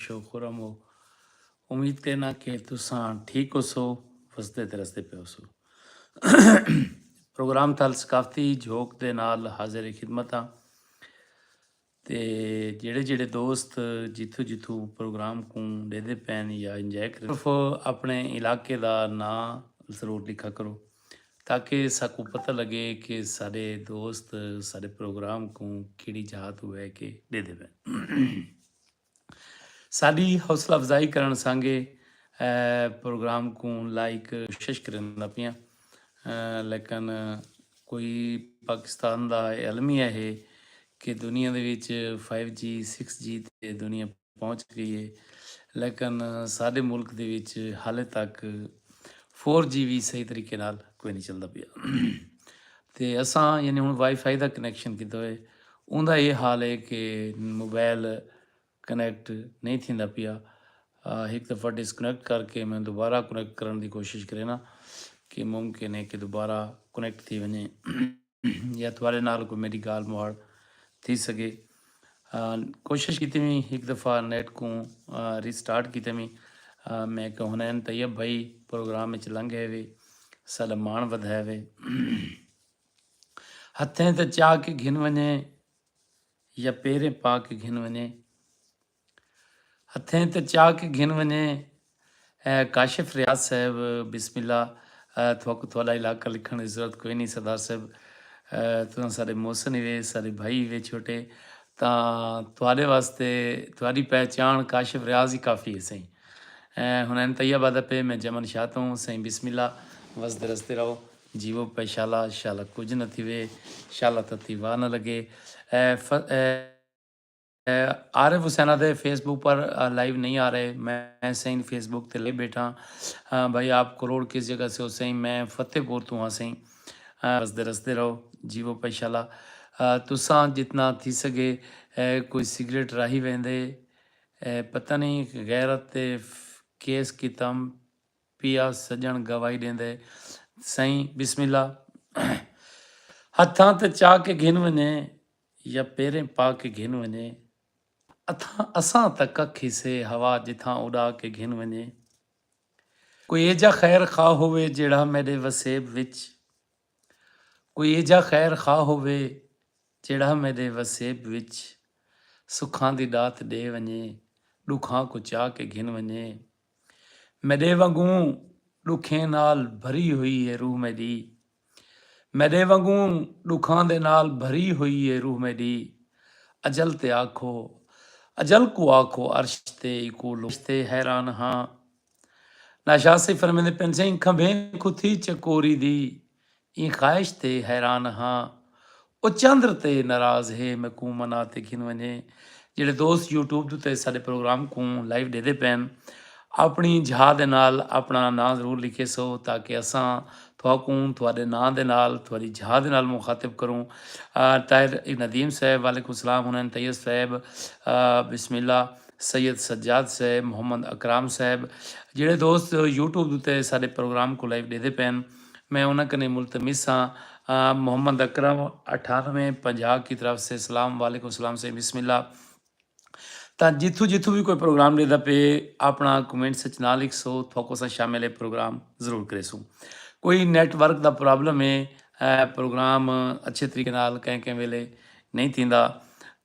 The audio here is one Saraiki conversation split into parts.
شو خرم ہو امید کرینا کہ تساں ٹھیک ہو سو وسدے تے رسدے پہ ہو سو پروگرام تھال ثقافتی جھوک دے نال حاضر خدمت ہاں تے جڑے جڑے دوست جتھو جتھو پروگرام کو دے دے پین یا انجوائے کریں صرف اپنے علاقے دا نا ضرور لکھا کرو تاکہ ساکو پتہ لگے کہ سارے دوست سارے پروگرام کو کیڑی جہاں تو بہ کے دے دے پین ساڈی حوصلہ افزائی کرنڑ سانگے پروگرام کوں لائیک شش کریندا پیاں لیکن کوئی پاکستان دا اے المیہ ہے کہ دنیا دے وچ فائیو جی سکس جی تے دنیا پہنچ گئی ہے لیکن ساڈے ملک دے وچ حالے تک فور جی وی صحیح طریقے نال کوئی نہیں چلدا پیا تے اساں یعنی ہن وائی فائی دا کنیکشن کیتا ہوئے اوندا ایہ حال ہے کہ موبائل کنیکٹ نئیں تھیندا پیا۔ ہک دفعہ ڈس کنیکٹ کر کے میں دوبارہ کنیکٹ کرݨ دی کوشش کرینداں کہ ممکن ہے کہ دوبارہ کنیکٹ تھی ونڄے یا تہاݙے نال کوئی میݙی ڳالھ مہاڑ تھی سڳے۔ کوشش کیتی وی ہک دفعہ نیٹ کوں ری سٹارٹ کیتے وی میں کہ حنین طیب بھائی پروگرام وچ لنگھ ہے وے ساݙا ماݨ ودھائے وے۔ ہتھیں تے چا کے گھن ونجے یا پیریں پا کے گھن ونجے ہتھیں تے چا کے گھن ونجے کاشف ریاض صاحب بسم اللہ تھوکو تھوڑا علاقہ لکھن دی ضرورت کوئی نہیں سردار صاحب تساں سارے محسن ہی وے سارے بھائی وے چھوٹے تا تھوڑے واسطے تھوڑی پہچان کاشف ریاض ہی کافی ہے سائیں ہن این طیب آدھا پہ میں جمن شاہ تو ہوں سائیں بسم اللہ وسدے رستے رہو جیوو پئے شالا، شالا کجھ نہ تھیوے، شالا تتی واہ نہ لگے۔ عارف حسین آدھے فیس بک پر لائیو نہیں آ رہے میں سئیں فیس بک تے لائیو بیٹھا ہاں بھائی آپ کروڑ کس جگہ سے ہو سئیں میں فتح پور توں ہاں سئیں ہسدے رسدے رہو جیوو پئے شالا تساں جتنا تھی سگے کوئی سگریٹ راہی ویندے پتہ نہیں غیرت تے کیس کیتم پیا سجݨ گواہی ݙیندے سئیں بسم اللہ ہتھاں تے چا کے گھن ونڄے یا پیریں پا کے گھن ونڄے اتھاں اساں تاں ککھ ہی سے ہوا جتھاں اݙا کے گھن ونڄے کوئی ایجھا خیر خواہ ہووے جیڑھا میݙے وسیب وچ کوئی ایجھا خیر خواہ ہووے جیڑھا میڈے وسیب وچ سکھاں دی ڈات ڈے ونجے ڈکھاں کوں چا کے گھن ونجے میڈے ونگوں ڈکھیں نال بھری ہوئی ہے روح میڈی میڈے ونگوں ڈکھاں دے نال بھری ہوئی ہے روح میڈی اجل تے آکھو اجل کوں آکھو عرش تے ایکوں لوٹے حیران ہاں۔ ناشاد صاحب فرمیندے پن سئیں کھمبھیں کوں تھی چکوری دی ایں خواہش تے حیران ہاں او چندر تے ناراض ہے میکوں منا تے گھن ونجے جڑے دوست یوٹیوب دے تے ساڈے پروگرام کوں لائیو ڈیدے پین اپنی جھا دے نال اپنا نام ضرور لکھے سو تاکہ اساں تھوکوں تھوڑے نام دے نال تھوڑی جھا دے نال مخاطب کروں طاہر ندیم صاحب وعلیکم السلام ہنین طیب صاحب بسم اللہ سید سجاد صاحب، محمد اکرام صاحب جیڑھے دوست یوٹیوب دے اتے ساڈے پروگرام کوں لائیو ڈیدے پئن میں انہاں کنیں ملتمس ہاں محمد اکرم اٹھانوے پنجاہ کی طرف سے سلام وعلیکم السلام سائیں بسم اللہ تاں جتھوں جتھوں وی کوئی پروگرام ڈیدا پئے اپنا کمنٹس اچ نہ لکھسو تھوکو سا شامل ہے پروگرام ضرور کریسوں کوئی نیٹ ورک دا پرابلم ہے پروگرام اچھے طریقے نال کہیں کہیں ویلے نہیں تھیندا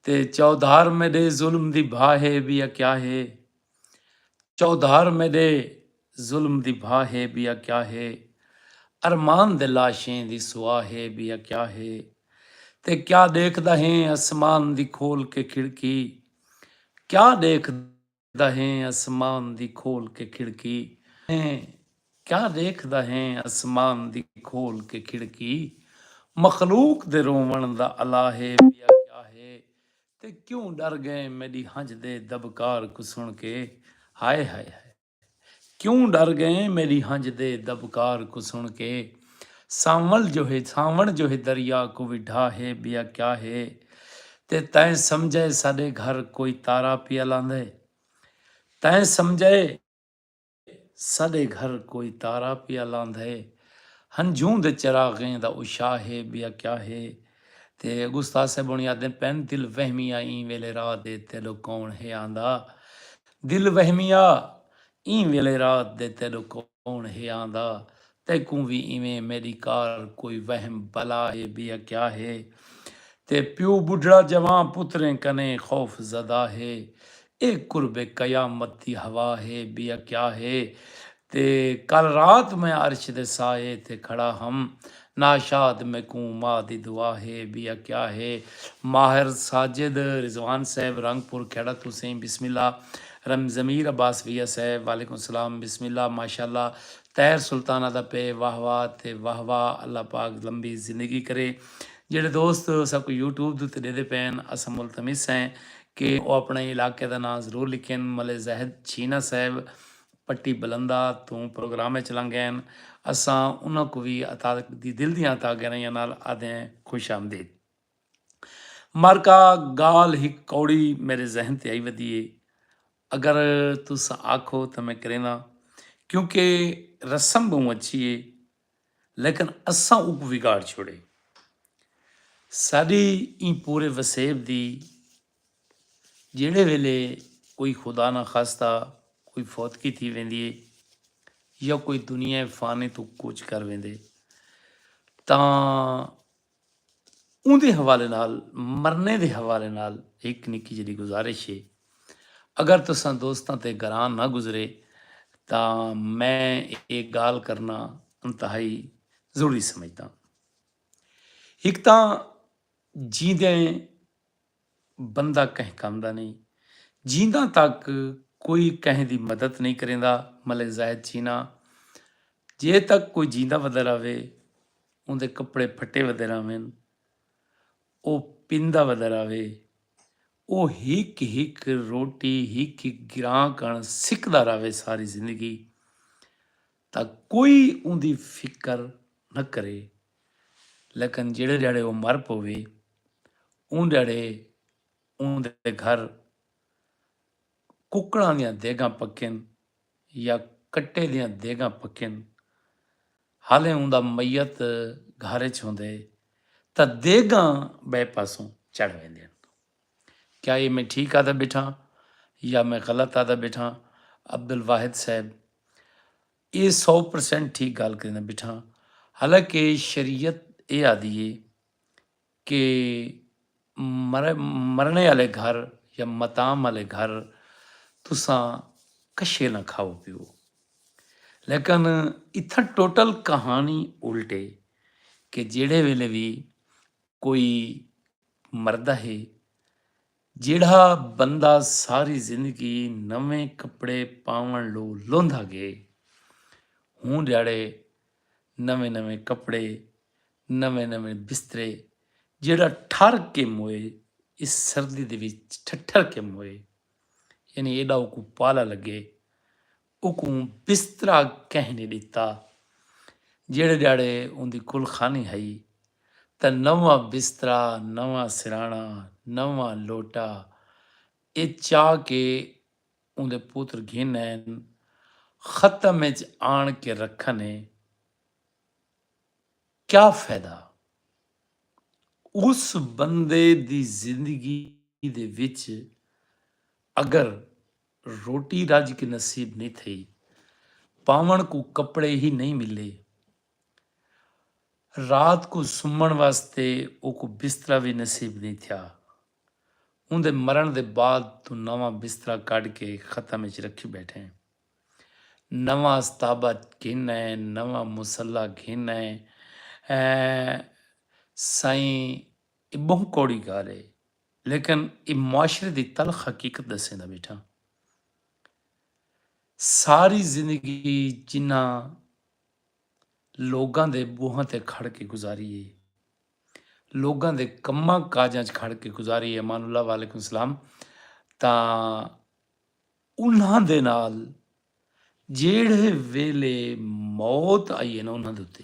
تے چودھار میڈے ظلم دی بھا ہے بیا کیا ہے چودھار میڈے ظلم دی بھا ہے بیا کیا ہے ارمان دے لاشیں دی سوا ہے بیا کیا ہے تے کیا ڈیکھدا ہیں اسمان دی کھول کے کھڑکی کیا ڈیکھدا دا ہیں اسمان دی کھول کے کھڑکی ہیں کیا ڈیکھدا ہیں اسمان دی کھول کے کھڑکی مخلوق دے روون دا الا ہے بیا کیا ہے تے کیوں ڈر گئے میڈی ہنج دے دبکار کوں سن کے ہائے ہائے ہائے۔ کیوں ڈر گئیں میڈی ہنج دے دبکار کوں سن کے سانول جو ہے سانوڑ جو ہے دریا کوں وی ڈھا ہے بیا کیا ہے تے تیں سمجھے ساڈے گھر کوئی تارا پیا لاندے تیں سمجھے ساڈے گھر کوئی تارا پیا لاندے ہنجوں دے چراغیں دا اشاہ ہے بیا کیا ہے تے اگوں استاد صاحب ہوݨی آہدن پئن دل وہمیا ایں ویلے رات دے تیݙو کوݨ ہے آندا دل وہمیا ایں ویلے رات دے تیݙو کوݨ ہے آندا تیکوں وی ایویں میݙی کار کوئی وہم بلا ہے بے اکیا ہے تے پیو ٻڈھڑا جوان پتریں کنیں خوف زدہ ہے اے قرب قیامت دی ہوا ہے بیا کیا ہے تے کل رات میں عرش دے سائے تے کھڑا ہم ناشاد میکوں ماء دی دعا ہے بیا کیا ہے ماہر ساجد رضوان صاحب رنگ پور کھیڑا توں سئیں بسم اللہ رم ضمیر عباس بھیا صاحب وعلیکم السلام بسم اللہ ماشاءاللہ طاہر سلطانہ دا پئے واہ واہ تے واہ واہ اللہ پاک لمبی زندگی کرے جیڑھے دوست اساکوں یوٹیوب دے اتے ڈیدھے پئے ہن اساں ملتمس ہیں کہ او اپݨے علاقے دا ناں ضرور لکھن ملے زاہد چھینا صاحب پٹی بلندا توں پروگرام اچ لنگ گئن اساں انہاں کوں وی عطا دی دل دیاں عطا گہرائیاں نال آدھیں خوش آمدید معرکہ گالھ ہک کوڑی میرے ذہن تے آئی ودی اے اگر تساں آکھو تاں میں کرینداں کیونکہ رسم بہوں اچھی اے لیکن اساں اوکوں وگاڑ چھوڑے۔ ساڈی ایں پورے وسیب دی جیڑھے ویلے کوئی خدا نہ خواستہ کوئی فوتگی تھی ویندی اے یا کوئی دنیا فانی توں کوچ کر ویندے تاں اوندے حوالے نال مرنے دے حوالے نال ہک نکی جیہڑی گزارش ہے اگر تساں دوستاں تے گراں نہ گزرے تاں میں ایہ گالھ کرنا انتہائی ضروری سمجھداں۔ ہک تاں جیندے بندہ کہیں کم دا نئیں جینداں تک کوئی کہیں دی مدد نئیں کریندا ملیں زاہد چینا جے تک کوئی جیندا ودا راہوے اوندے کپڑے پھٹے ودے راہون او پیندا ودا راہوے او ہک ہک روٹی ہک ہک گراں کن سکدا راہوے ساری زندگی تاں کوئی اوندی فکر نہ کرے لیکن جیڑھے ڈھیاڑے او مر پووے اوں ڈھیاڑے اوں دے گھر ککڑاں دیاں دیگاں پکین یا کٹے دیاں دیگاں پکین حالیں اوں دا میت گھر اچ ہوندے تاں دیگاں بئے پاسوں چڑھ ویندین۔ کیا ایہ میں ٹھیک آدھا بیٹھاں یا میں غلط آدھا بیٹھاں عبدالواحد صاحب اے سو پرسنٹ ٹھیک گالھ کریندا بیٹھاں حالانکہ شریعت اے آدھی ہے کہ مرنے آلے گھر یا متام آلے گھر تساں کشے نہ کھاؤ پیو لیکن اتھا ٹوٹل کہانی الٹے کہ جیڑے ویلے بھی کوئی مردہ ہے جیڑھا بندہ ساری زندگی نویں کپڑے پاوݨ لو لوندا گئے ہوں ݙیہاڑے نویں نویں کپڑے نویں نویں بسترے جیڑھا ٹھر کے موئے اس سردی دے وچ ٹھٹھر کے موئے یعنی ایڈا اوکوں پالا لگے اکوں بسترا کہیں نی ڈتا۔ جیڑھے ڈیہاڑے اوندی کل خانی ہئی تاں نواں بسترا، نواں سرہانا، نواں لوٹا اے چا کے اوندے پتر گھن آئن ختم اچ آن کے رکھن اے کیا فیدہ۔ اس بندے دی زندگی دے وچ اگر روٹی رج کے نصیب نی تھئی۔ پاوݨ کوں کپڑے ہی نئیں ملے۔ رات کوں سمݨ واسطے اوکوں بسترا وی نصیب نی تھیا۔ اوندے مرݨ دے بعد توں نواں بسترا کڈھ کے ختم اچ رکھی بیٹھے۔ نواں استابہ گھن آئے نواں مصلی گھن آئے ایں سائیں اے بہوں کوڑی گالھ اے لیکن اے معاشرے دی تلخ حقیقت ڈسیندا بیٹھاں۔ ساری زندگی جنہاں لوگاں دے بوہاں تے کھڑ کے گزاری اے۔ لوگاں دے کماں کاجاں اچ کھڑ کے گزاری اے۔ امان اللہ وعلیکم السلام تاں انہاں دے نال جیڑھے ویلے موت آئی اے نا انہاں دے اتے۔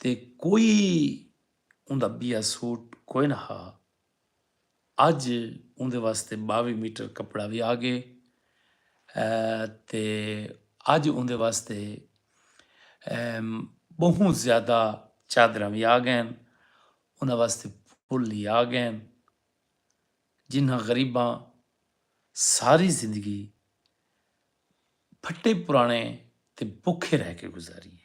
تے کوئی اوندا ٻیا سوٹ کوئے نہ ہا۔ اڄ اوندے واسطے ٻاوی میٹر کپڑا وی آ ڳئے تے اڄ اوندے واسطے ٻہوں زیادہ چادراں وی آ ڳئین۔ اوندا واسطے پھل وی آ ڳئین۔ جنہاں غریباں ساری زندگی پھٹے پراݨے تے بکھے رہ کے گزاری اے۔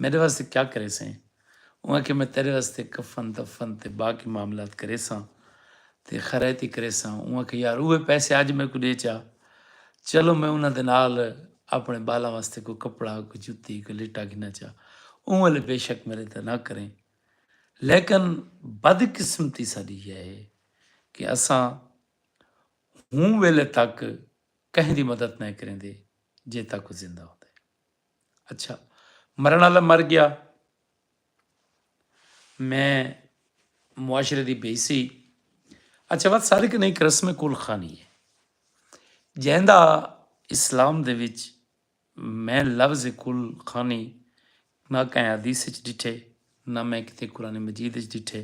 میݙے واسطے کیا کریسیں؟ اوں آکھیا میں تیݙے واسطے کفن دفن تے باقی معاملات کریساں تے خیرائتی کریساں۔ اوں آکھیا یار اوہے پیسے اڄ میکوں ݙے چا، چلو میں انہاں دے نال آپݨے ٻالاں واسطے کوئی کپڑا، کوئی جتی، کوئی لٹا گھناں چا، اوں ویلے بے شک میݙے تے نہ کریں۔ لیکن بدقسمتی ساݙی ایہا ہے کہ اساں ہوں ویلے تک کہیں دی مدد نئیں کریندے جے تک او زندہ ہوندے۔ اچھا مرن والا مر گیا میں معاشرے دی بے سی اچھا وقت صادق نہیں ایک رسم کل خانی ہے جہندہ اسلام دے وچ میں لفظ کل خانی نہ کہیں حدیث چ ڈٹھے نہ میں کتے قرآن مجید اچ ڈٹھے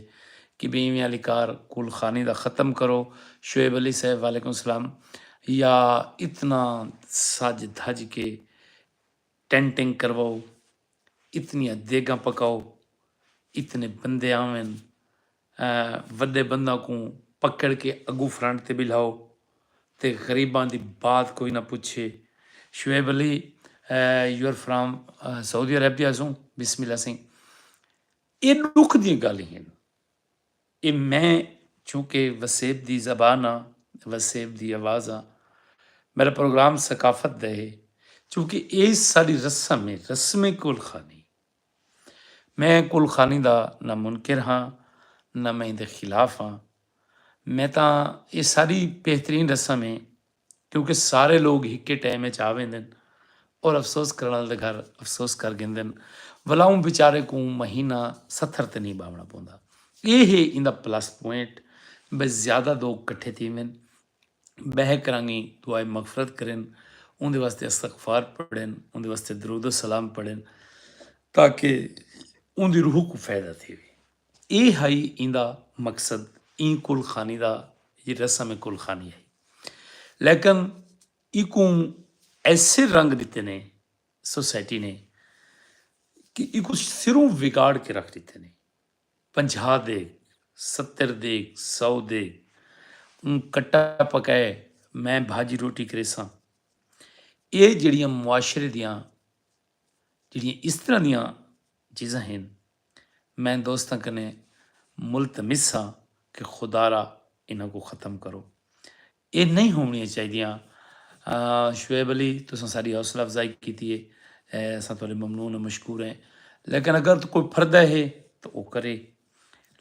کہ بھئی ایویں آلی کار کول خانی دا ختم کرو شعیب علی صاحب وعلیکم السلام یا اتنا سج دھج کے ٹینٹنگ کرواؤ اتنیاں دیگاں پکاؤ اتنے بندے آون وڈے بنداں کوں پکڑ کے اگوں فرنٹ تے بلھاؤ تے غریباں دی بات کوئی نہ پچھے Shoaib Ali your from Saudi Arabia سوں بسم اللہ سائیں اے ڈکھ دیاں گالھیں ہن اے میں چونکہ وسیب دی زبان ہاں وسیب دی آواز ہاں میرا پروگرام ثقافت دا ہے چونکہ اے ساڈی رسم ہے رسم کول خانی میں کل خانی دا نہ منکر ہاں نہ میں ایندے خلاف ہاں۔ میں تاں ایہ ساڈی بہترین رسم ہے کیونکہ سارے لوگ ہکے ٹائم اچ آ ویندن اور افسوس کرݨ آلے دے گھر افسوس کر گھندن ولا اوں بیچارے کوں مہینہ ستھر تے نئیں ٻاوݨا پوندا۔ ایہ ہے ایندا پلس پوائنٹ بھئی زیادہ دوگ کٹھے تھیون بہہ کرانگیں دعائے مغفرت کرن اوندے واسطے استغفار پڑھن اوندے واسطے درود و سلام پڑھن تاکہ اوندی روح کوں فائدہ تھیوے اے ہئی ایندا مقصد ایں کل خانی دا جی رسم کل خانی ہئی لیکن ایکوں ایسے رنگ دیتے نے سوسائٹی نے کہ ایکوں سروں وگاڑ کے رکھ دیتے نے پنجھاہ دے ستر دے سو دے اوں کٹا پکائے میں بھاجی روٹی کریساں اے جیڑیاں معاشرے دیاں جیڑیاں اس طرح دیاں چیزاں ہن میں دوستاں کنے ملتمس ہاں کہ خدارا انہاں کو ختم کرو اے نئیں ہوونڑیاں چاہیدیاں۔ شعیب علی تساں ساڈی حوصلہ افزائی کیتی ہے اساں تہاڈے ممنون و مشکور ہیں لیکن اگر کوئی پھردہ ہے تاں او کرے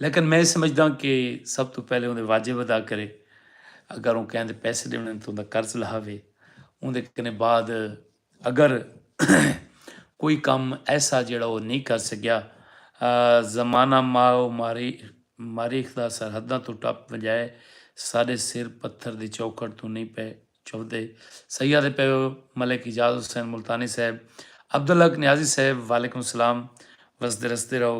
لیکن میں سمجھداں کہ سب توں پہلے اوندے واجب ادا کرے اگر اوں کہیں دے پیسے ڈیونے تاں اوندا قرض لہاوے اوندے کنے بعد اگر کوئی کم ایسا جیڑھا او نئیں کر سگیا۔ زمانہ ماء و ماریخ دا سرحداں توں ٹپ ونجائے ساڈے سر پتھر دی چوکھٹ توں نئیں پئے چوھدے۔ سیاں دے پیو ملک اعجاز حسین ملتانی صاحب عبدالحق نیازی صاحب وعلیکم السلام وسدے رسدے رہو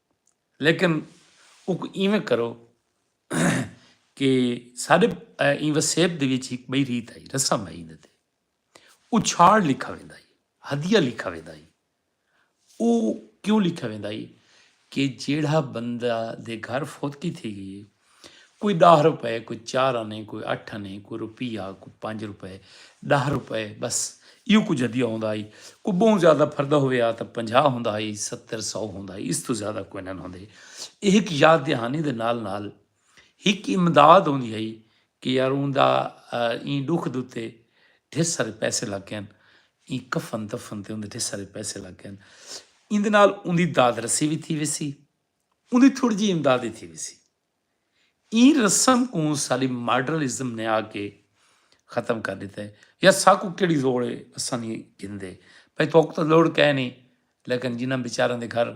لیکن اوکوں ایویں کرو کہ ساڈے ایں وسیب دے وچ ہک بئی ریت ہئی رسم ہئی ایندے تے اچھاڑ لکھا ویندا ہئی ہدیہ لکھا ویندا ہئی او کیوں لکھا ویندا ہئی کہ جیڑھا بندہ دے گھر فوتگی تھی گئی ہے کوئی ݙاہ روپے، کوئی چار آنے، کوئی اٹھ آنے، کوئی روپیہ، کوئی پنج روپے، ݙاہ روپے ٻس ایہو کجھ ہدیہ ہوندا ہئی۔ کوئی ٻہوں زیادہ پھردا ہووے ہا تاں پنجاہ ہوندا ہئی، ستر، سو ہوندا ہئی، اس توں زیادہ کوئنن ہوندے۔ ایہ ہک یاد دہانی دے نال نال ہک امداد ہوندی ہئی کہ یار اوندا ایں ݙکھ دے اتے ڈھیر سارے پیسے لڳ ڳئن، ایں کفن دفن تے اوندے ڈھیر سارے پیسے لڳ ڳئن۔ ایندے نال اوندی داد رسی وی تھی ویسی۔ اوندی تھوڑی جئی امداد ای تھی ویسی۔ ایں رسم کوں سالی ماڈرل ازم نے آ کے ختم کر ڈتا ہے۔ یا ساکوں کیڑھی لوڑ ہے اساں نی گھندے بھئی تہاکوں تاں لوڑ کائے نی لیکن جنہاں بیچاراں دے گھر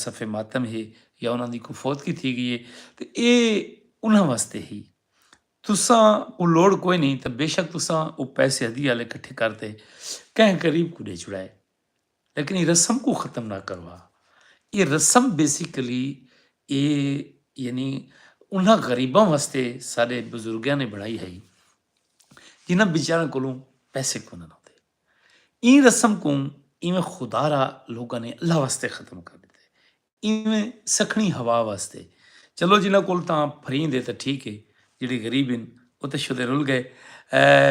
صفے ماتم ہے یا انہاں دی کوئی فوتگی تھی گئی ہے تے اے انہاں واسطے ہئی۔ تساں کوں لوڑ کوئی نی تاں بیشک تساں او پیسے ہدیے آلے کٹھے کر تے کہیں غریب کوں ڈے چھڑائے۔ لیکن اے رسم کوں ختم نہ کروا۔ اے رسم بیسیکلی اے یعنی انہاں غریباں واسطے ساڈے بزرگاں نے بنڑائی ہئی جنہاں بیچاراں کولوں پیسے کونہن ہوندے۔ ایں رسم کوں ایویں خدا را لوکاں نے اللہ واسطے ختم کر ڈتے۔ ایویں سکھنی ہوا واسطے چلو جنہاں کول تاں پھریند ہے تاں ٹھیک ہے جیڑھے غریب ہن او تاں شدے رل گئے۔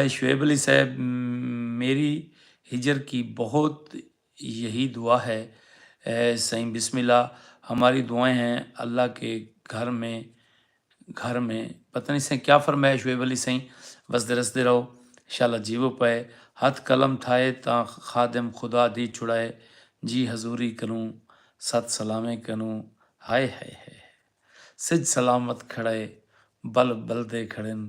شعیب علی صاحب میری ہجر کی بہت یہی دعا ہے سائیں بسم اللہ ہماری دعائیں ہیں اللہ کے گھر میں گھر میں پتہ نہیں سئیں کیا فرمائش ہوئے ولی سئیں وسدے رسدے رہو شالا جیوو پئے ہتھ قلم تھائے تاں خادم خدا دی چھڑائے جی حضوری کنوں ست سلاویں کنوں ہائے ہائے ہائے ہائے سجھ سلامت کھڑئے بلب بلدے کھڑن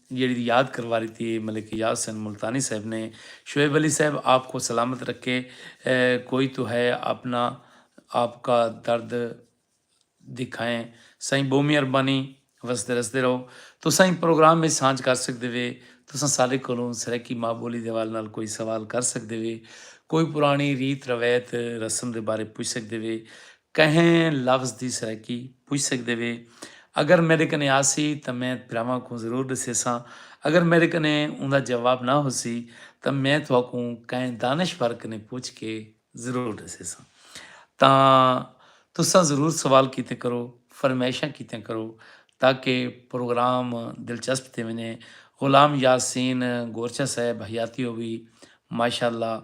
جیڑھی دی یاد کروا ڈتی اے ملک یار حسین ملتانی صاحب نے شعیب علی صاحب آپ کو سلامت رکھے کوئی تو ہے اپنا آپ کا درد دکھائیں سائیں بہو مہربانی وسدے رسدے رہو تساں ایں پروگرام وچ سانجھ کر سکدے وے تساں سارے کولوں سرائیکی ماں بولی دے حوالے نال کوئی سوال کر سکدے وے کوئی پرانی ریت روایت رسم دے بارے پچھ سکدے وے کہیں لفظ دی سرائیکی پچھ سگدے وے۔ اگر میڈے کنے آسی تاں میں بھراواں کوں ضرور ڈسیساں۔ اگر میڈے کنے اوندا جواب نہ ہوسی تاں میں تہاکوں کہیں دانشور کنے پچھ کے ضرور ڈسیساں۔ تاں تساں ضرور سوال کیتے کرو، فرمائشاں کیتیاں کرو تاکہ پروگرام دلچسپ تھی ونجے۔ غلام یاسین گورچہ صاحب حیاتی ہووی ماشاءاللہ۔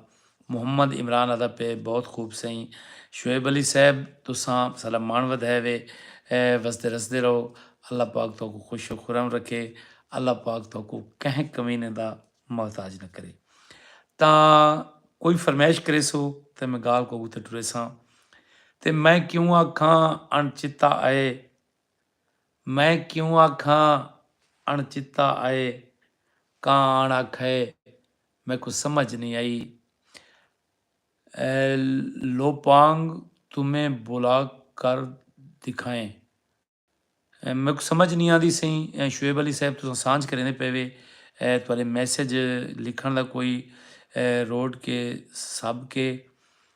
محمد عمران آدا پئے بہت خوب سئیں شعیب علی صاحب تساں ساڈا مان ودھائے وے وسدے رسدے رہو اللہ پاک تہاکوں خوش و خرم رکھے اللہ پاک تہاکوں کہیں کمینے دا محتاج نہ کرے تاں کوئی فرمائش کریسو تے میں گال کوکوں تے ٹریساں تے میں کیوں آکھاں اݨ چتا آئے میں کیوں آکھاں اݨ چتا آئے کاں اݨ آکھئے میکوں سمجھ نئیں آئی لوپانگ تمہیں بلا کر دکھائیں میکوں سمجھ نئیں آندی سئیں شعیب علی صاحب تساں سانجھ کریندے پئے وے تہاݙے میسج لکھݨ دا کوئی روٹ کے سب کے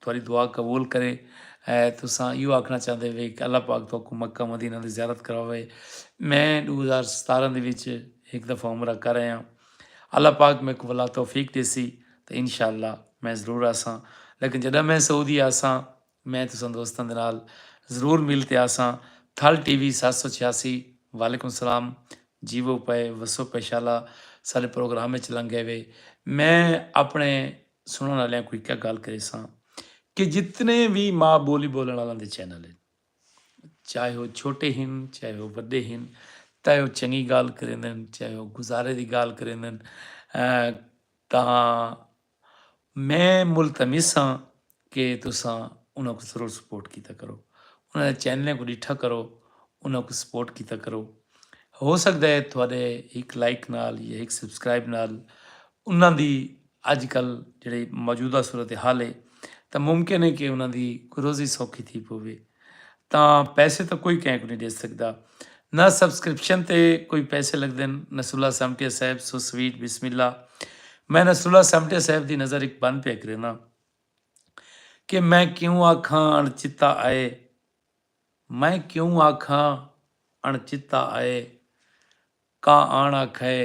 تہاݙی دعا قبول کرے۔ اے تساں ایہو آکھݨا چاہندے وے کہ اللہ پاک تہاکوں مکہ مدینہ دی زیارت کرواوے۔ میں ݙو ہزار ستارہ دے وچ ہک دفعہ عمرہ کر آیاں۔ اللہ پاک میکوں ولا توفیق ݙیسی تاں انشاء اللہ میں ضرور آساں۔ لیکن جݙاں میں سعودی آساں میں تساں دوستاں دے نال ضرور مل تے آساں۔ تھل ٹی وی ست سو چھیاسی وعلیکم السلام جیوو پئے وسو پئے شالا ساݙے پروگرام وچ لنگھ ڳئے وے۔ میں اپݨے سنڑن آلیاں کوں ہکا گالھ کریساں کہ جتنے وی ماء بولی بولن آلاں دے چینل ہن چاہے او چھوٹے ہن چاہے او وڈے ہن تاں او چنگی گالھ کریندن چاہے او گزارے دی گالھ کریندن تاں میں ملتمس ہاں کہ تساں انہاں کوں ضرور سپورٹ کیتا کرو انہاں دے چینلیں کوں ڈٹھا کرو انہاں کوں سپورٹ کیتا کرو ہو سکدا ہے تھوڑے ہک لائک نال یا ہک سبسکرائب نال انہاں دی اڄ کل جیڑھی موجودہ صورت حال ہے تاں ممکن ہے کہ انہاں دی کوئی روزی سوکھی تھی پوے تاں پیسے تاں کوئی کہیں کو نہیں ڈے سکدا نہ سبسکرپشن تے کوئی پیسے لگدن نصر اللہ سمٹیا صاحب سو سویٹ بسم اللہ میں نصر اللہ سمٹیا صاحب دی نظر ایک بند پہ کرینا کہ میں کیوں آکھاں اݨ چتا آئے میں کیوں آکھاں اݨ چتا آئے کا آن آکھائے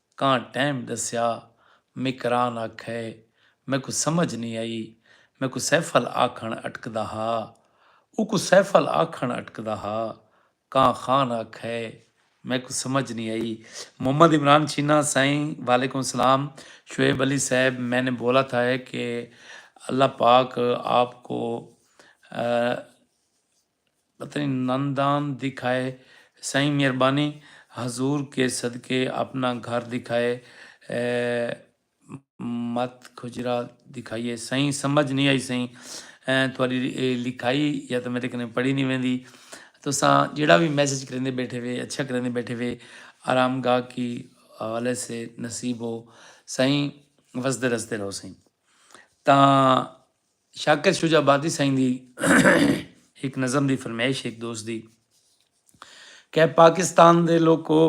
کاں ٹیم ڈسیا۔ مکران آکھے، میکوں سمجھ نی آئی۔ میکوں سیفل آکھن اٹکدا ہا۔ اوکوں سیفل آکھن اٹکدا ہا۔ کاں خان آکھے، میکوں سمجھ نی آئی۔ محمد عمران چینا، سائیں وعلیکم سلام شعیب علی صاحب میں نے بولا تھا ہے کہ اللہ پاک آپ کو پتنی نندان دکھائے سائیں مہربانی حضور کے صدقے اپنا گھر دکھائے مت کھجرا دکھائیے سائیں سمجھ نی آئی سائیں تھوڑی اے لکھائی یا تو میرے کنے پڑھی نی ویندی تساں جیڑا بھی میسج کریندے بیٹھے وے اچھا کریندے بیٹھے وے آرام گاہ کی حوالے سے نصیب ہو سائیں وسدے رسدے رہو سائیں تاں شاکر شجاع آبادی سئیں دی ہک نظم دی فرمیش ہک دوست دی کہہ پاکستان دے لوکو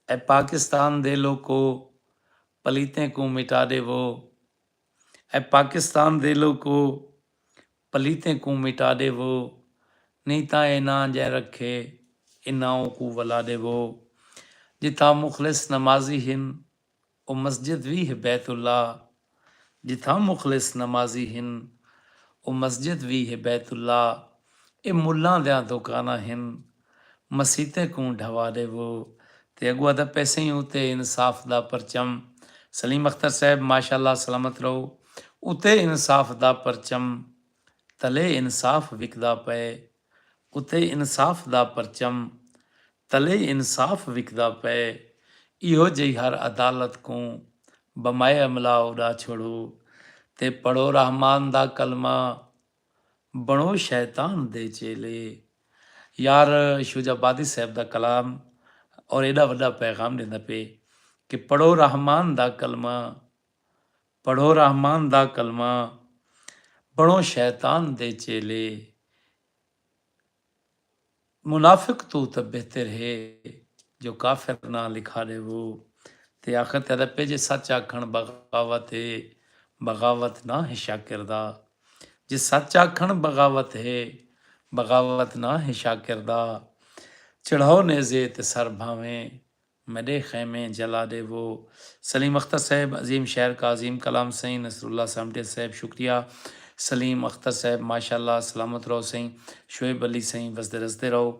اے پاکستان دے لوکو پلیتیں کوں مٹا ڈیوو اے پاکستان دے لوکو پلیتیں کوں مٹا ڈیوو نی تاں اے ناں جئیں رکھے انہاں اونکوں ولا ڈیوو جتھاں مخلص نمازی ہن او مسجد وی ہے بیت اللہ جتھاں مخلص نمازی ہن او مسجد وی ہے بیت اللہ اے ملاں دیاں دوکاناں ہن مسیتیں کوں ڈھوا ڈیوو تے اگوا دا پیسیں اتے انصاف دا پرچم سلیم اختر صاحب ماشاءاللہ سلامت رہو اتے انصاف دا پرچم تلے انصاف وکدا پئے اتے انصاف دا پرچم تلے انصاف وکدا پئے ایہو جئی ہر عدالت کوں بمائے املا اڈا چھوڑو تے پڑھو رحمان دا کلمہ بنڑو شیطان دے چیلے یار شوج آبادی صاحب دا کلام اور ایڈا وڈا پیغام ڈیندا پئے کہ پڑھو رحمان دا کلمہ پڑھو رحمان دا کلمہ بنڑو شیطان دے چیلے منافق توں تاں بہتر ہے جو کافر ناں لکھا ڈیوو تے آخر تے رپے جے سچ آکھنڑ بغاوت ہے بغاوت ناں ہے شاکر دا جے سچ آکھنڑ بغاوت ہے بغاوت ناں ہے شاکر دا چڑھاؤ نیزے تے سر بھانویں میڈے خیمے جلا ڈیوو۔ سلیم اختر صاحب عظیم شاعر کا عظیم کلام سئیں نصر اللہ سامٹے صاحب شکریہ سلیم اختر صاحب ماشاءاللہ سلامت رہو سئیں شعیب علی سئیں وسدے رسدے رہو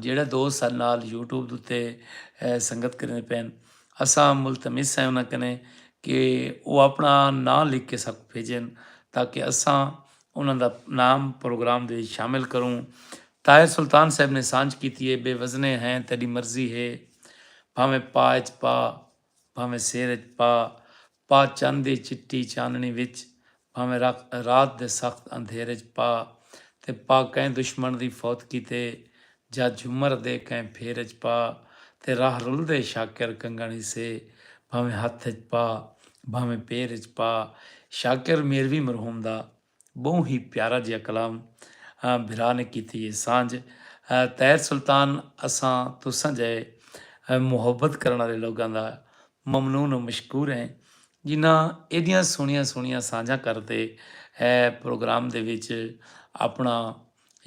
جیڑھے دوست ساڈے نال یوٹیوب دے اتے سنگت کریندے پئن اساں ملتمس ہیں انہاں کنے کہ او اپنا ناں لکھ کے اساکوں بھیجن تاکہ اساں انہاں دا نام پروگرام دے وچ شامل کروں طاہر سلطان صاحب نے سانجھ کیتی اے بے وزنے ہیں تیڈی مرضی ہے بھانویں پا اچ پا بھانویں سیر اچ پا پا چن دی چٹی چاننڑی وچ بھانویں رکھ رات دے سخت اندھیر اچ پا تے پا کئیں دشمن دی فوت کیتے جا جھمر دے کئیں پھیر اچ پا تے راہ رلدے شاکر کنگن ہیسے بھانویں ہتھ اچ پا بھانویں پیر اچ پا شاکر میروی مرحوم دا ٻہوں ہی پیارا جیہا کلام بھرا نے کیتی ہے سانجھ طاہر سلطان اساں تساں جئے محبت کرن آلے لوگاں دا ممنون و مشکور ہیں جنہاں ایڈیاں سوہنیاں سوہنیاں سانجھاں کر تے پروگرام دے وچ اپنا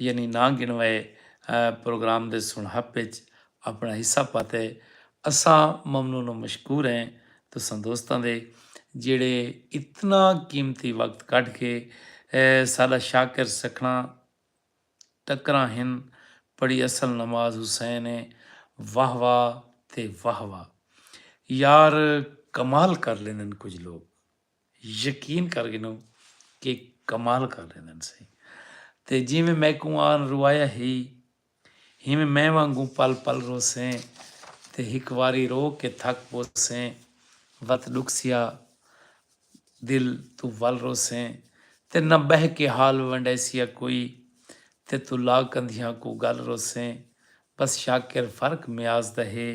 یعنی نا گنوائے پروگرام دے سنہپ اچ اپنڑا حصہ پاتے اساں ممنون و مشکور ہیں تساں دوستاں دے جیڑھے اتنا قیمتی وقت کڈھ کے ساڈا شاکر سکھنڑاں ٹکراں ہن پڑھی اصل نماز حسین ہے واہ واہ تے واہ واہ یار کمال کر لیندن کجھ لوگ۔ یقین کر گھنو کہ کمال کر ڈیندن سی تے جیویں میکوں آن روایا ہئی ہیویں میں وانگوں پل پل روسیں تے ہک واری رو کے تھک پوسیں وت ڈکھسیا دل توں ول روسیں تے نہ بہہ کے حال ونڈیسیا کوئی تے توں لا کندھیاں کوں گل روسیں بس شاکر فرق میاز دا ہے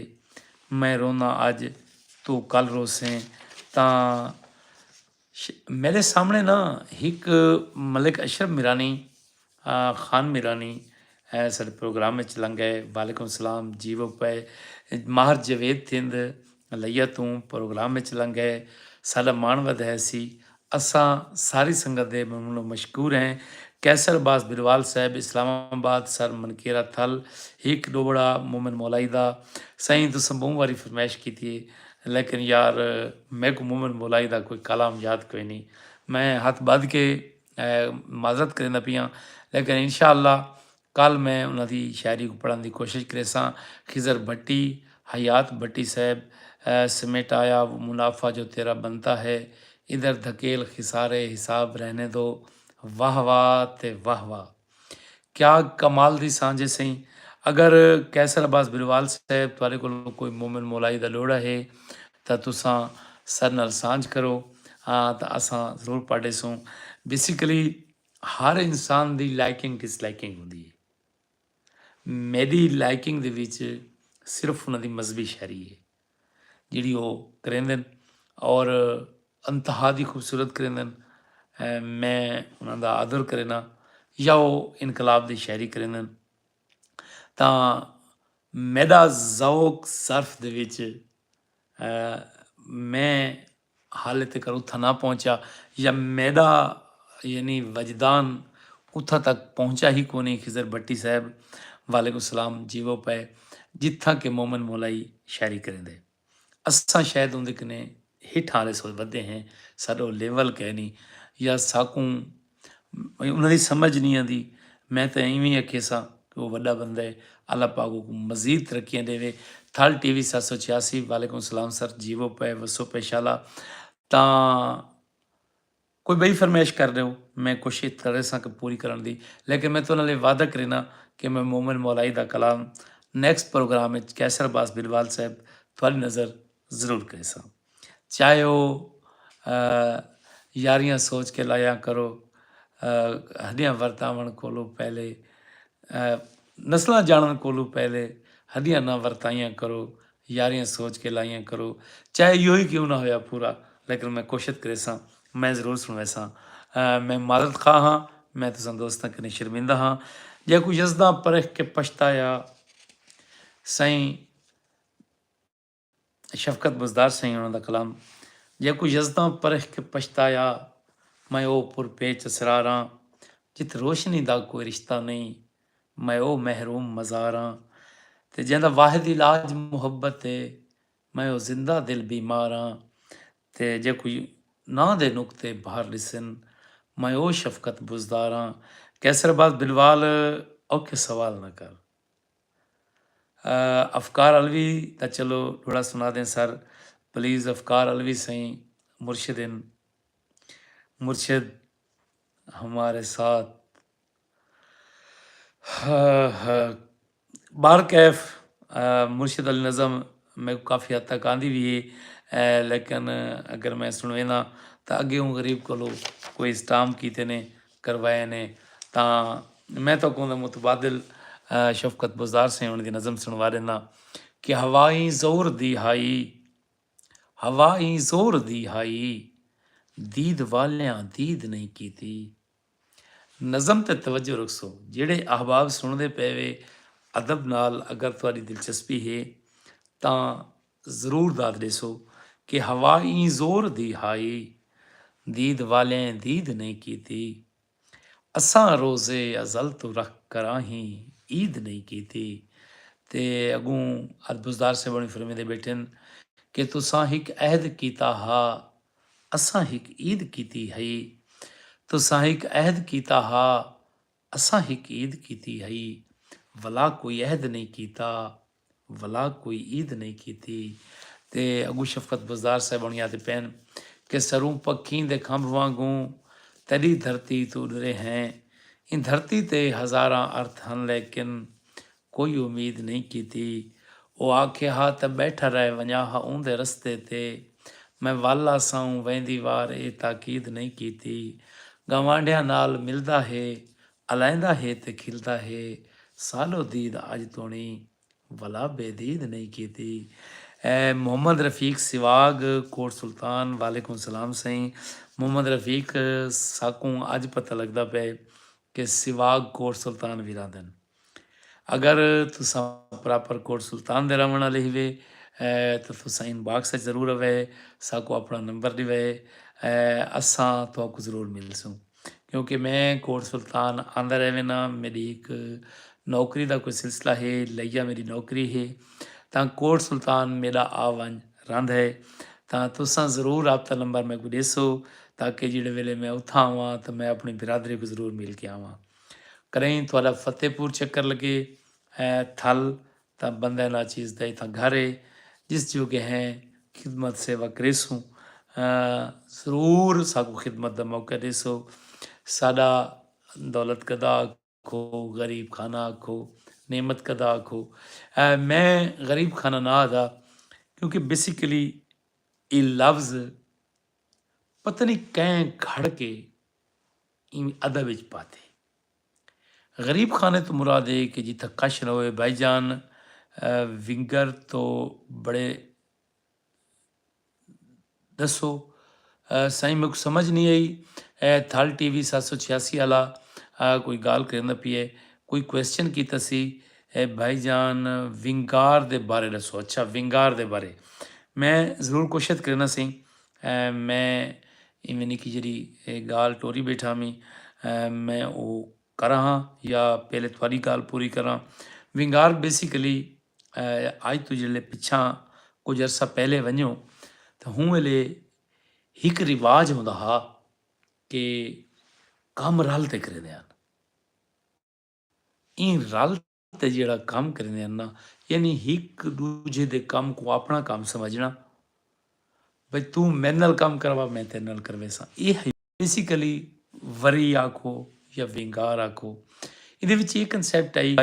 میں رونداں اج توں کل روسیں تاں میڈے سامنے نا ہک ملک اشرف میرانی خان میرانی ساڈے پروگرام اچ لنگئے وعلیکم سلام جیوو پئے ماہر جاوید تھیند لئیاں توں پروگرام وچ لنگ گئے ساڈا ماݨ ودھ ہے سی اساں ساری سنگت دے ممنون و مشکور ہیں قیصر عباس بھروال صاحب اسلام آباد سر منکیرا تھل ہک ڈوبڑا مومن مولائی دا سائیں تساں بہوں واری فرمائش کیتی ہے لیکن یار میکوں مومن مولائی دا کوئی کالام یاد کوئی نی میں ہتھ بدھ کے معذرت کریندا پیاں لیکن انشاءاللہ کل میں انہاں دی شاعری کوں پڑھن دی کوشش کریساں۔ خضر بھٹی، حیات بھٹی صاحب سمیٹایا وہ منافع جو تیرا بنتا ہے، ادھر دھکیل خسارے حساب رہنے دو، واہ واہ تے واہ واہ۔ کیا کمال دی سانجھ ہے سئیں۔ اگر قیصر عباس بھروال صاحب تہاڈے کولوں کوئی مومن مولائی دا لوڑھا ہے تاں تساں ساڈے نال سانجھ کرو تاں اساں ضرور پڑھ ڈیسوں۔ بیسیکلی ہر انسان دی لائکنگ ڈس لائکنگ ہوندی ہے میڈی لائکنگ دے وچ صرف انہاں دی مذہبی شاعری ہے جیڑی او کریندن اور انتہا دی خوبصورت کریندن میں انہاں دا آدر کرینا یا او انقلاب دی شاعری کریندن تا میڈا ذوق صرف دے وچ میں حالے تیکر اتھاں نہ پہنچا یا میڈا یعنی وجدان اتھاں تک پہنچا ہی کونی خضر بھٹی صاحب وعلیکم سلام جیوو پے جتھاں کہ مومن مولائی شاعری کریندے اساں شاید اوندے کنے ہیٹھاں آلے سوچ ودے ہیں ساڈو لیول کینی یا ساکوں انہاں دی سمجھ نی آندی میں تاں ایویں اکھیساں کہ او وڈا بندہ ہے اللہ پاک اوکوں مزید ترقیاں ڈیوے تھل ٹی وی ست سو چھیاسی وعلیکم السلام سر جیوو پے وسو پے شالا تاں کوئی بئی فرمائش کر ڈیو میں کوشش کریساں کہ پوری کرن دی لیکن میں تنہاں لے وعدہ کرینا کہ میں مومن مولائی دا کلام نیکسٹ پروگرام وچ قیصر عباس بلوال صاحب تھوڑی نظر ضرور کریساں چاہے او یاریاں سوچ کے لایاں کرو ہڈیاں ورتاون کولوں پہلے نسلاں جانن کولوں پہلے ہڈیاں نہ ورتائیاں کرو یاریاں سوچ کے لایاں کرو چاہے یہی کیوں نہ ہویا پورا لیکن میں کوشش کریساں میں ضرور سنویساں میں معذرت خواہ ہاں میں تساں دوستاں کنے شرمندہ ہاں جے کوئی یزداں پرکھ کے پچھتایا سائیں شفقت بزدار سئیں انہاں دا کلام جیکوں یزداں پرکھ کے پچھتایا میں او پر پیچ اسرار آں جت روشنی دا کوئی رشتہ نئیں میں او محروم مزار آں تے جیندا واحد علاج محبت اے میں او زندہ دل بیمار آں تے جیکوں ناں دے نقطے بھار ڈسن میں او شفقت بزدار آں قیصر عباس بلوال اوکھے سوال نہ کر۔ افکار علوی دا چلو ڈوہڑا سنا دیں سر پلیز افکار علوی سئیں مرشد ہن مرشد ہمارے ساتھ بہر کیف مرشد آلی نظم میکو کافی حد تک آندی وی ہے لیکن اگر میں سنوینا تاں اگے اوں غریب کولو کوئی اسٹام کیتے نے کروائے نے تاں میں تہاکوں دے متبادل شفقت بزدار سئیں انہاں دی نظم سنوا ݙینداں کہ ہوا ای زور دی ہائی ہوا ای زور دی ہائی دید والیاں دید نئیں کیتی نظم تے توجہ رکھسو جیڑھے احباب سݨدے پئے وے ادب نال اگر تہاݙی دلچسپی ہے تاں ضرور داد ڈیسو کہ ہوا ایں زور دی ہائی دید والیں دید نئیں کیتی اساں روزے ازل توں رکھ کراہیں عید نئیں کیتی تے اگوں ادبزدار سیوہݨی فرمیندے بیٹھن کہ تساں ہک عہد کیتا ہا اساں ہک عید کیتی ہئی تساں ہک عہد کیتا ہا اساں ہک عید کیتی ہئی ولا کوئی عہد نئیں کیتا ولا کوئی عید نئیں کیتی تے اگوں شفقت بزدار صاحبݨی آہدے پئن کہ سروں پکھیں دے کھمب وانگوں تیݙی دھرتی توں ݙرے ہیں ایں دھرتی تے ہزاراں ارتھ ہن لیکن کوئی امید نئیں کیتی۔ او آکھے ہا تاں ٻیٹھا رہ ونڄاں ہا اوندے رستے تے۔ میں ول آساوں ویندی وار اے تاکید نئیں کیتی۔ گنوانڈھیاں نال ملدا ہے، الائیندا ہے تے کھلدا ہے۔ سالو دید اڄ توݨی ولا بے دید نئیں کیتی۔ محمد رفیق سواڳ کوٹ سلطان وعلیکم سلام سئیں محمد رفیق ساکوں اڄ پتہ لڳدا پئے کہ سواڳ کوٹ سلطان وی رہندن۔ اگر تساں پراپر کوٹ سلطان دے رہونڑ آلے ہیوے تاں تساں ان باکس اچ ضرور اوے ساکوں اپنڑاں نمبر ڈیوے اساں تہاکوں ضرور ملسوں کیونکہ میں کوٹ سلطان آندہ رہونڑاں میڈی ہک نوکری دا کوئی سلسلہ ہے لیا میڈی نوکری ہے تاں کوٹ سلطان میڈا آ ونج رہندہ ہے تاں تساں ضرور رابطہ نمبر میکوں ڈیسو تاکہ جیڑے ویلے میں اتھاں آواں تاں میں اپنڑی برادری کوں ضرور مل کے آواں۔ کرئیں تہاڈا فتح پور چکر لگے اے تھل تاں بندہ ناچیز دا اتھاں گھر اے جس جوگے ہیں خدمت سیوا کریسوں ضرور ساکوں خدمت دا موقع ڈیسو ساڈا دولت گدا آکھو غریب خانہ آکھو نعمت گدا آکھو میں غریب خانہ نہ آدا کیونکہ بیسیکلی اے لفظ پتہ نہیں کئیں گھڑ کے اینویں ادب وچ پاتے۔ غریب خانے توں مراد اے کہ جتھاں کش رہوے بھائی جان ونگر تو بڑے دسو سائیں میکوں سمجھ نہیں آئی اے تھل ٹی وی سات سو چھیاسی آلا کوئی گال کریندا پیے کوئی کوسچن کیتا سی اے بھائی جان ونگار دے بارے دسو اچھا ونگار دے بارے میں ضرور کوشت کرنا سائیں میں ایویں نکی جیہڑی گالھ ٹوری بیٹھا میں میں او کراں ہاں یا پہلے تہاڈی گالھ پوری کراں ونگار بیسیکلی اج توں جیہڑے پچھاں کچھ عرصہ پہلے ونجو تاں ہوں ویلے ہک رواج ہوندا ہا کہ کم رل تے کریندے ہن ایں رل تے جیہڑا کم کریندے ہن ناں یعنی ہک ڈوجھے دے کم کوں اپنڑاں کم سمجھنڑاں بھئی توں میڈے نال کم کروا میں تیڈے نال کرویساں ایہ ہئی بیسیکلی وری آکھو یا ونگار آکھو ایندے وچ ایہ کنسیپٹ ہئی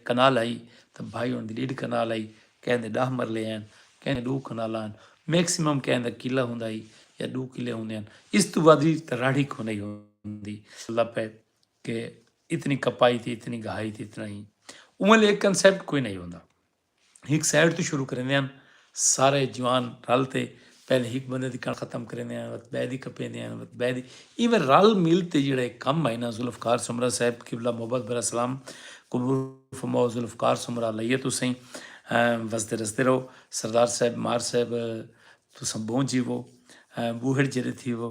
کنال ہئی تاں بھائی ہن دی ڈیڈھ کنال ہئی کہیں دے ڈاہ مرلے ہن کہیں دے ڈو کنالاں ہن میکسیمم کہیں دا کلہ ہوندا ہئی یا ڈو کلے ہوندے ہن اس توں ودھ تاں راڑھی کونہی ہوندی اللہ پہ کہ اتنی کپائی تھی اتنی گہائی تھی اتنا ہی اوہ لے کنسپٹ کوئی نہیں ہوتا ہک سائڈ تو شروع کریں دے ہیں سارے جوان رل تے پہلے ہک بندے دی کن ختم کریں دے ہیں وقت بے دی کپیں دے ہیں وقت بے دی ایویں رل مل تے جڑا ایک کم ہے نا ذوالفقار سمرہ صاحب قبلہ محبت برا سلام قبول فرماؤ ذوالفقار سمرہ لئیے تو سہیں وسدے رسدے رہو سردار صاحب مار صاحب تو سمبھون جیوو بوہڑ جڑے تھی وہ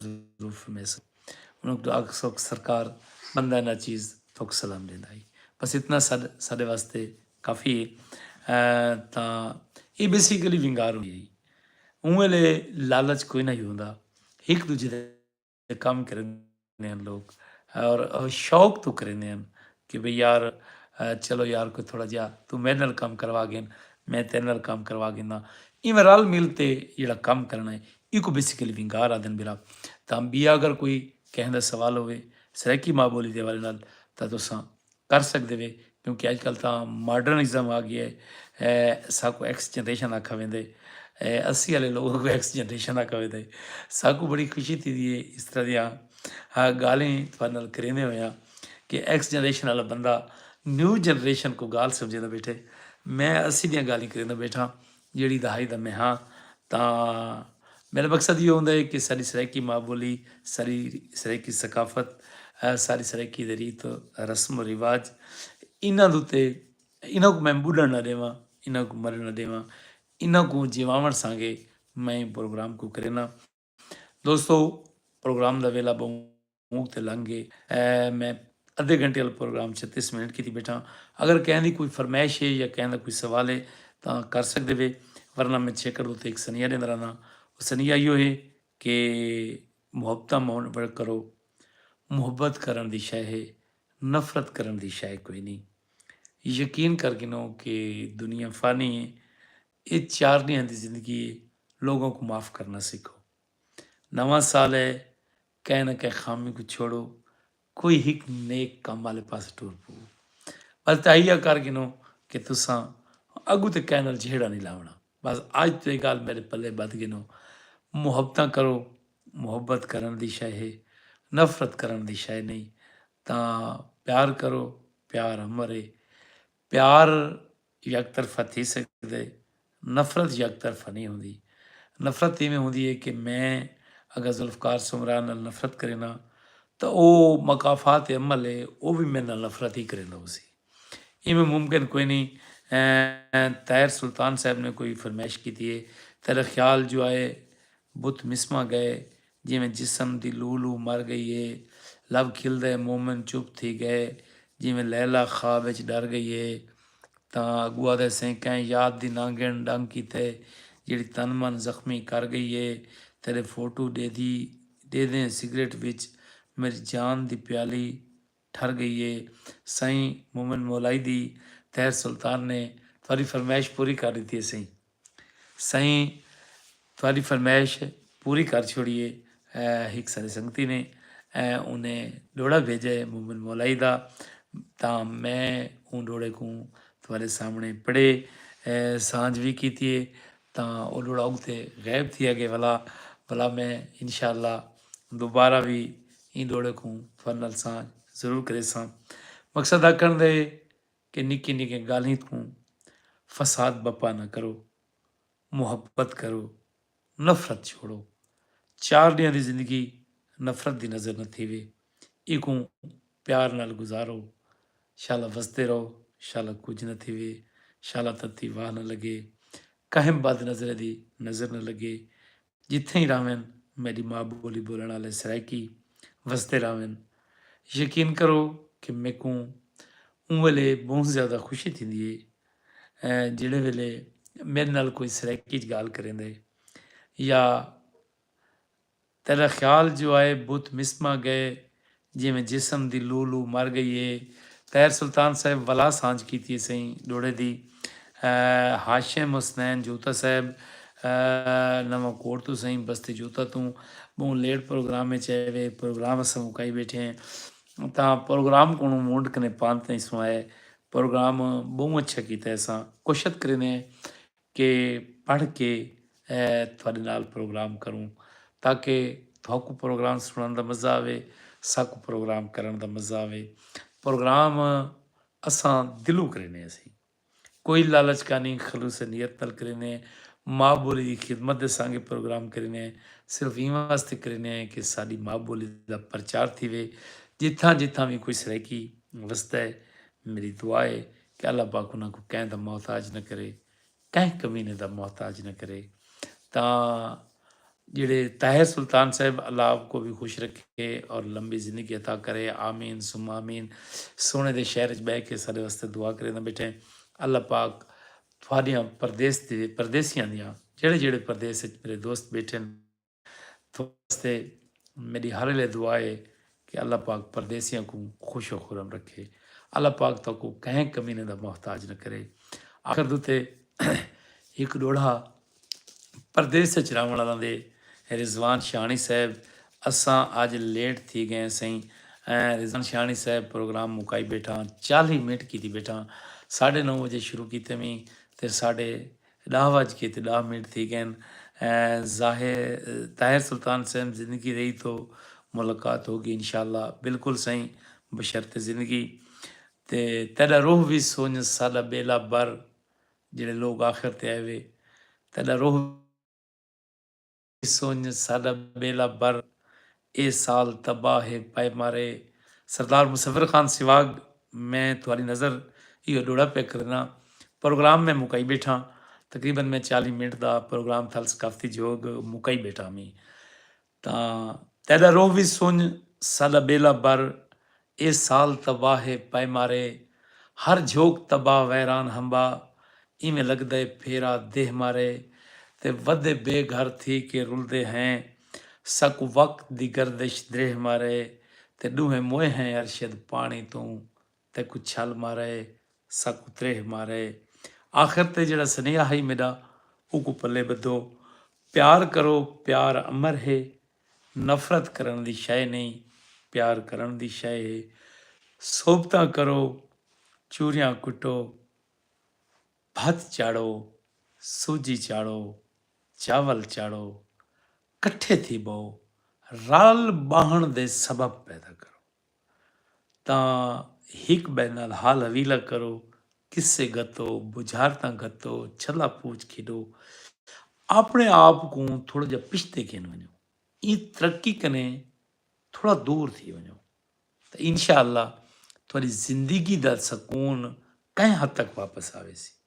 مصروف ہمیسن انہاں کوں آکھ سوکھ سرکار بندہ نا چیز توک سلام ڈیندا ہی بس اتنا ساڈ ساڈے واسطے کافی ہے تا اے بیسیکلی ونگار ہوندی ہی اوں ویلے لالچ کوئی نہ ہی ہوندا ہک دوجے دے کم کریندے ہن لوگ اور شوق تو کریندے ہن کہ بھئی یار چلو یار کوئی تھوڑا جیہا توں میڈے نال کم کروا گھن میں تیڈے نال کم کروا گھننا ایویں رل مل تے جیہڑا کم کرنا ہے ایکوں بیسیکلی ونگار آدھن بھرا تاں بیا اگر کوئی کہیں دا سوال ہووے سرائیکی ماں بولی دے حوالے نال تاں تساں کر سکدے وے کیونکہ اج کل تاں ماڈرن ازم آ گیا ہے ساکوں ایکس جنریشن آکھا ویندا ہے اسی آلے لوگ اگوں ایکس جنریشن آکھا ویندا ہے ساکوں بڑی خوشی تھی دی ہے اس طرح دیاں گالیں تھوڑے نال کریندے ہویاں کہ ایکس جنریشن آلا بندہ نیو جنریشن کوں گالھ سمجھیندا بیٹھے، میں اسی دیاں گالھیں کریندا بیٹھاں جیڑھی دہائی دا میں ہاں تاں میڈا مقصد ایہو ہوندا ہے کہ ساڈی سرائیکی ماء بولی، ساڈی سرائیکی ثقافت، ساڈی سرائیکی دے ریت رسم و رواج انہاں دے اتے انہاں کوں میں بڈھن نہ ڈیواں، انہاں کوں مرن نہ ڈیواں، انہاں کوں جیواون سانگے میں پروگرام کوں کرینداں۔ دوستو پروگرام دا ویلا بہوں تے لنگ گئے میں ادھے گھنٹے والا پروگرام چھتیس منٹ کیتی بیٹھا اگر کہیں دی کوئی فرمائش ہے یا کہیں دا کوئی سوال ہے تاں کر سکدے وے ورنہ میں چھیکڑ دو تے ایک سنیہ دیندا رہنا او سنیہ ایو ہے کہ محبتاں مون بڑ کرو محبت کرن دی شے ہے نفرت کرن دی شے کوئی نہیں یقین کر گنو کہ دنیا فانی ہے اے چار ڈینہاں دی زندگی اے لوگاں کوں معاف کرنا سکھو نواں سال اے کہیں نہ کہیں خامی کوں چھوڑو کوئی ہک نیک کم والے پاسے ٹر پو بس تہیا کر گنو کہ تساں اگو تے کہیں نال جھیڑا نہیں لاونا بس اج تو اے گال میرے پلے بدھ گنو محبتاں کرو محبت کرن دی شے ہے نفرت کرن دی شے نہیں تاں پیار کرو پیار امر ہے پیار یک طرفہ تھی سگدے۔ نفرت یک طرفہ نی ہوندی۔ نفرت ایویں ہوندی ہے کہ میں اگر ذوالفقار سمرا نال نفرت کرینا تاں او مکافات عمل ہے او وی میڈے نال نفرت ہی کریندا ہوسی۔ ایویں ممکن کوئی نی۔ طاہر سلطان صاحب نے کوئی فرمائش کیتی ہے۔ تیرا خیال جو آئے بت مسماں گئے جیویں جسم دی لو لو مر گئی ہے۔ لب کھلدے مومن چپ تھی گئے۔ جیویں لیلی خواب اچ ڈر گئی ہے۔ تاں اگو آدھے سئیں کئیں یاد دی نہ گن ڈنگ کیتے جیڑھی تن من زخمی کر گئی ہے۔ تیرے فوٹو ڈیدھی ڈیدھیں سگریٹ وچ میڈی جان دی پیالی ٹھر گئی ہے سائیں مومن مولائی دی طاہر سلطان نے تہاڈی فرمائش پوری کر ڈتی ہے سائیں سائیں تہاڈی فرمائش پوری کر چھوڑی ہے ہک سارے سنگتی نے انہیں ڈوڑا بھیجا ہے مومن مولائی دا تا میں اون ڈوڑے کو تہاڈے سامنے پڑھے سانج بھی کیتی ہے تا او ڈوڑا اگتے غائب تھیا گئے والا والا میں انشاءاللہ دوبارہ وی ایں ڈوہڑے کوں فن نال سانجھ ضرور کریساں۔ مقصد آکھنڑ دا اے کہ نکیں نکیں گالھیں توں فساد بپا نہ کرو، محبت کرو، نفرت چھوڑو۔ چار ڈینہاں دی زندگی نفرت دی نظر نہ تھیوے، ایکوں پیار نال گزارو۔ شالا وسدے رہو، شالا کجھ نہ تھیوے، شالا تتی واہ نہ لگے، کہیں بد نظریں دی نظر نہ لگے، جتھے ہی رہون میڈی ماء بولی بولن آلے سرائیکی وسدے رہون یقین کرو کہ میکوں اوں ویلے بہوں زیادہ خوشی تھیندی ہے جیڑھے ویلے میڈے نال کوئی سرائیکی اچ گال کریندے یا تیڈا خیال جو آئے بت مسمہ گئے جیویں جسم دی لو لو مر گئی اے۔ طاہر سلطان صاحب ولا سانجھ کیتی اسئیں ڈوڑھے دی۔ ہاشم حسنین جوتا صاحب نواں کوٹ توں سئیں بستی جوتا توں بہوں لیٹ پروگرام اچ آئے وے۔ پروگرام اساں مکائی بیٹھے ہیں تاں پروگرام کونوں مونڈ کنے پانت نئیں سوں آئے۔ پروگرام بہوں اچھا کیتا ہے اساں کوشت کریندے ہیں کہ پڑھ کے تہاڈے نال پروگرام کروں تاکہ تہاکوں پروگرام سنڑن دا مزہ آوے ساکوں پروگرام کرنڑ دا مزہ آوے پروگرام اساں دلوں کرینے ہسی کوئی لالچ کانی خلوص نیت نال کرینے ماء بولی دی خدمت دے سانگے پروگرام کرینے صرف ایں واسطے کرینے کہ ساڈی ماء بولی دا پرچار تھیوے جتھاں جتھاں وی کوئی سرائیکی وسدا ہے میڈی دعا ہے کہ اللہ پاک انہاں کوں کہیں دا محتاج نہ کرے کہیں کمینے دا محتاج نہ کرے تاں جیڑھے طاہر سلطان صاحب اللہ آپ کو بھی خوش رکھے اور لمبی زندگی عطا کرے آمین ثم آمین سونے دے شہر وچ بیٹھ کے سارے واسطے دعا کرے نہ بیٹھے اللہ پاک تھوڑیاں پردیس دے پردیسیاں دیاں جڑے جڑے پردیس وچ میرے دوست بیٹھے تہاڈے واسطے میڈی ہر ویلے دعا ہے کہ اللہ پاک پردیسیاں کوں خوش و خرم رکھے۔ اللہ پاک تہاکوں کہیں کمینے دا محتاج نہ کرے۔ آخر تے ہک ڈوڈھا پردیس اچ رہون آلاں دے رضوان شاہݨی صاحب اساں اج لیٹ تھی گئے ہیں سئیں رضوان شاہݨی صاحب پروگرام مکائی بیٹھاں چالیہہ منٹ کیتی بیٹھاں ساڈھے نو وجے شروع کیتے ویں تے ساڈھے ݙاہ وڄ کے تے ݙاہ منٹ تھی ڳئن ظاہر طاہر سلطان سئیں زندگی رہی توں ملاقات ہوگی انشاء اللہ بلکل سئیں بشرط زندگی تے تیݙا روح وی سونجھ ساݙا ٻیلا بر جیڑھے لوک آخر تے آئے وے تیݙا روح سنڄ ساݙا ٻیلا بر اے سال تباہ ہے پئے مارے سردار مصور خان سواڳ میں تہاݙی نظر ایہو ݙوہڑا پئے کرݨا پروگرام میں مکائی ٻیٹھاں تقریبا میں چالیہہ منٹ دا پروگرام تھل ثقافتی جھوڳ مکائی ٻیٹھاں ہمی تاں تیݙا روح وی سنڄ ساݙا ٻیلا بر اے سال تباہ اے پئے مارے ہر جھوک تباہ ویران ہمبا ایویں لگدے پھیرا دیہہ مارے تے ودے بے گھر تھی کے رلدے ہیں ساکوں وقت دی گردش دریہہ مارے تے ڈوہیں موئے ہیں ارشد پانی توں تیکوں چھل مارے ساکوں تریہہ مارے آخر تے جیڑھا سنیہا ہئی میڈا اوکوں پلے بدھو پیار کرو پیار امر ہے نفرت کرݨ دی شئے نئیں پیار کرݨ دی شئے ہے صحبتاں کرو چوریاں کٹو بھت چاڑھو سوجی چاڑھو چاول چاڑھو کٹھے تھی بہو رل ٻہݨ دے سبب پیدا کرو تاں ہک ٻئے نال حال حویلہ کرو، قصے گھتو، بجھارتاں گھتو، چھلا پوچھ کھیݙو، آپݨے آپ کوں تھوڑا جیہا پچھتے گھن ونڄو، ایں ترقی کنیں تھوڑا دور تھی ونڄو تاں انشاء اللہ تہاݙی زندگی دا سکون کہیں حد تک واپس آویسی۔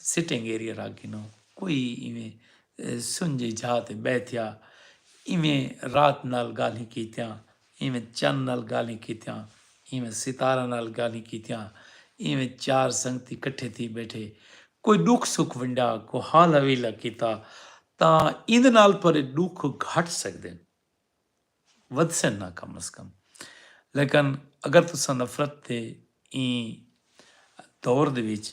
سٹنگ ایریا رکھ گھنو کوئی ایویں سنجھے جھا تے بیٹھیا ایویں رات نال گالھیں کیتیاں ایویں چن نال گالھیں کیتیاں ایویں ستارہ نال گالھیں کیتیاں ایویں چار سنگتی کٹھے تھی بیٹھے کوئی ڈکھ سکھ ونڈا کوئی حال حویلہ کیتا تاں ایندے نال تہاڈے ڈکھ گھٹ سکدن ودھسن نہ کم از کم لیکن اگر تساں نفرت دے ایں دور دے وچ